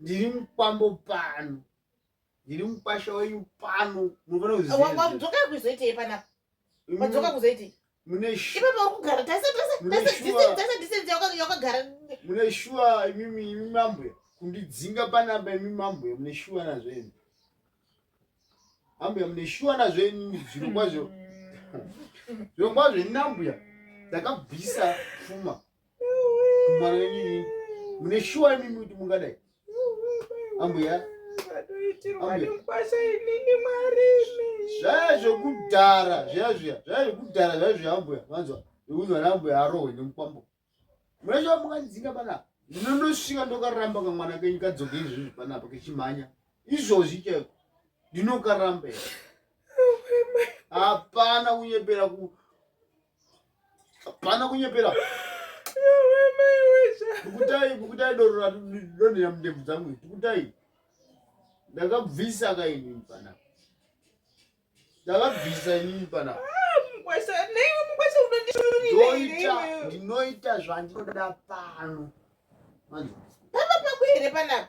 ndiri mukwambo pano ndiri mukwasha wenyu pano munofanirawadzoka kuzoitei panapa wadzoka kuzoitei mune ipapa uri kugara tese tese tese tese disense yakagara mune shuwa imimi imi mambo kundidzinga panapa imi mambo mune shuwa nazvo imi ambuya mune shuwa nazvo imi zviro kwazvo zviro kwazvo inambuya ndakabvisa pfuma mwana wenyu inini mune shuwa imimi kuti mungadai ambuya zvaya zvekudhara zviya zviya zvaya zvekudhara zvaya zviya ambuya vanzwa nekuti vana ambuya arohwe nemukwambo mune shuwa mungandidzinga panapa ndinondosvika ndokaramba kamwana kenyu kadzoke izvozvi panapa kechimhanya izvozvi chaiko ndinokaramba hapana kunyepera ku Pana kunyepera. Yawe mai wesha. Kukutai kukutai doro ra doni ya mdevu dzangu. Kukutai. Ndakabvisa ka ini pana. Ndakabvisa ini pana. Ah, mukwasha, nei mukwasha unondishurira ini. Ndinoita, ndinoita zvandinoda pano. Manje. Papa pakuhere panapa.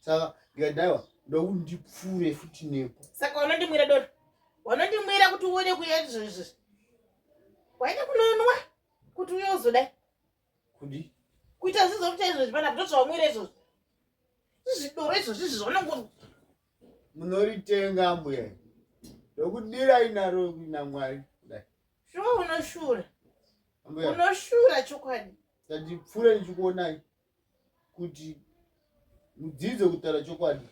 saka ndikadaiwa ndokuti ndipfuure futi nepo saka wanondimwira doro wanondimwira kuti uone kuya izvozvi waida kunonwa kuti uye uzodai kudi kuita zvizo kuita izvozvi pana kuti zvawamwira izvozvi zvidoro izvozvi izvi zvaunongo munoritenga mbuya ndokudirai naro namwari kudai sho unoshura unoshura chokwadi ndandipfuure ndichikuonai kuti mudzidze kutaura chokwadi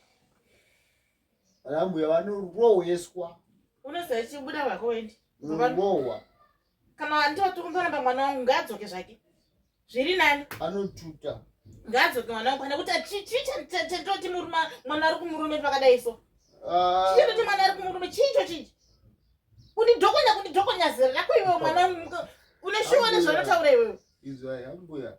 vana mbuya vanorohweswa unoziva chibuda vako wendi unobohwa kana andoti unoramba mwana wangu ngaadzoke zvake zviri nani anotuta ngaadzoke mwana wangu kana kuti chichitoti murume mwana ari kumurume pakadai so ah. chichitoti mwana ari kumurume chiicho chichi kundidhokonya kundidhokonya zera rako iwewe mwana wangu uneshuwa nezvanotaura iwewe izvai ambuya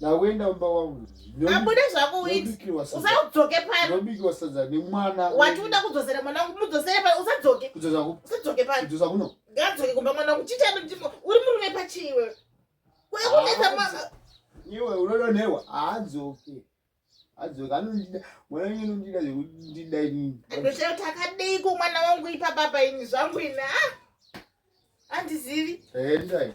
Ndawenda umba wangu. Abude zvako uiti. Usadzoke pano. Ndobikiwa sadza nemwana. Wati uda kudzosera mwana wangu mudzosere pano usadzoke. Kudzosa ku. Usadzoke pano. Kudzosa kuno. Ngadzoke kumba mwana wangu chita ndimo. Uri murume pachiwe. Kuya kunetsa mwana. Iwe unodonewa. Haadzoke. adzoka anondida mwana wenyu anondida zvekundida inini ndochero takadeiko mwana wangu ipa baba ini zvangu ini a ah! andizivi endai